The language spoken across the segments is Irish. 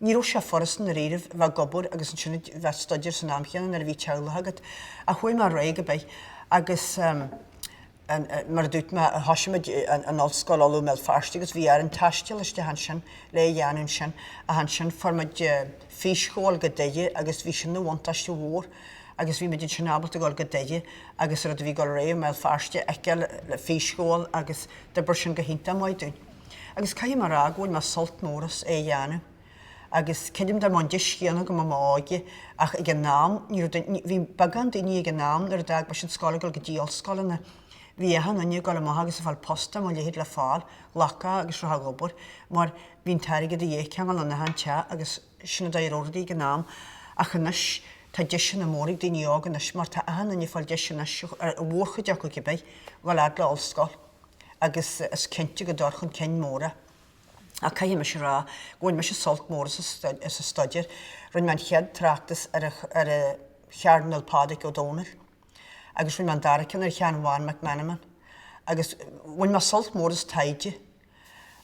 Ní raibh sé furasta dáiríribh bheith ag obair agus ansin a bheith ag staidéar san am chéanna nuair a bhí teaghlach agat. Ach chuaigh mé leis cibé agus mar a dúirt mé, thoisigh muid in Ollscoil Uladh i mBéal Feirste agus bhí orainn taisteal isteach ansin le a dhéanamh ansin ach ansin fuair muid físchomhdháil go Doire agus bhí sin ina bhuntáiste mhór agus bhí muid ansin ábalta dul go Doire agus rud a bhí ag dul ar aghaidh i mBéal Feirste fheiceáil le físchomhdháil agus d'oibir sin go hiontach maith dúinn. agus caithfidh mé a rá go bhfuair mé sult mór as é a dhéanamh agus creidim dá mbeadh an deis chéanna agam i m'óige ach ag an am ní raibh duine, bhí beagán daoine ag an am nuair a d'fhág mise an scoil ag dul go dtí ollscoileanna, bhí achan duine ag dul amach agus ag fáil post dá mba a leithéid le fáil, ghlacfá agus rachfá ag obair mar bhí an t-airgead a dhíth cionn is in achan teach agus sin an dóigh a raibh rudaí ag an am ach anois tá deiseanna móra ag daoine óga anois mar tá achan duine ag fáil deis anois, an mhórchuid acu cibé, dul fhad le ollscoil. agus is cinnte go dtabharfadh an ceann móra, ach caithfidh mise a rá go bhain mise sult mór as a staidéar. Rinne mé an chéad tráchtas ar an Chairdinéal Pádraig Ó Domhnaill agus rinne mé an dara ceann ar Sheán Bhán Mac Meanman agus bhain mé sult mór as taighde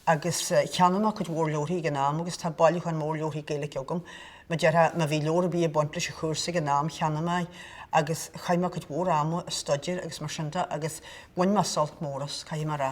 agus cheannaigh mé cuid mhór leabharthaí ag an am agus tá bailiúchán mór leabharthaí Gaeilge agam. Mar a déarfá, má bhí leabhar ar bith ag baint leis an chúrsa ag an am, cheannaigh mé é agus chaith mé cuid mhór ama ag staidéar agus mar sin de agus bhain mé sult mór as, caithfidh mé a rá.